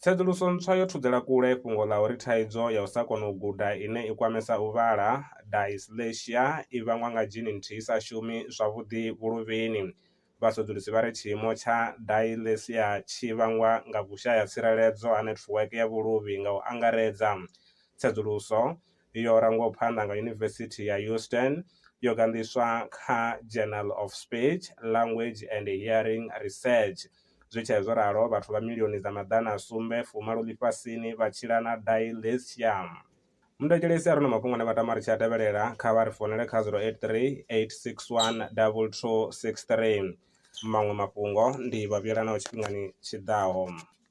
Tsedzuluso ntswa yo thudzela kule fhungo ḽa uri thaidzo ya u sa kona u guda ine i kwamesa u vhala, dyslexia, i vhangwa nga dzhini nthihi i sa shumi zwavhuḓi vhuluvhini. Vhasedzulusi vha ri tshiimo tsha dyslexia tshi vhangwa nga vhushaya-tsireledzo ha netiweke ya vhuluvhi nga u angaredza. Tsedzuluso. yo rangwaho phanḓa nga Yunivesithi ya Houston yo ganḓiswa kha Journal of Speech, Language and Hearing Research. Zwi tshee zwo ralo, vhathu vha milioni dza maḓana a sumbe fumalo ḽifhasini vha tshila na dyslexia. Muthetshelesi a re na mafhungo ane vha tama ri tshi a tevhelela, kha vha ri founele kha 083 861 2263. Maṅwe mafhungo ndi Vhavhuyelanaho tshifhingani tshi ḓaho.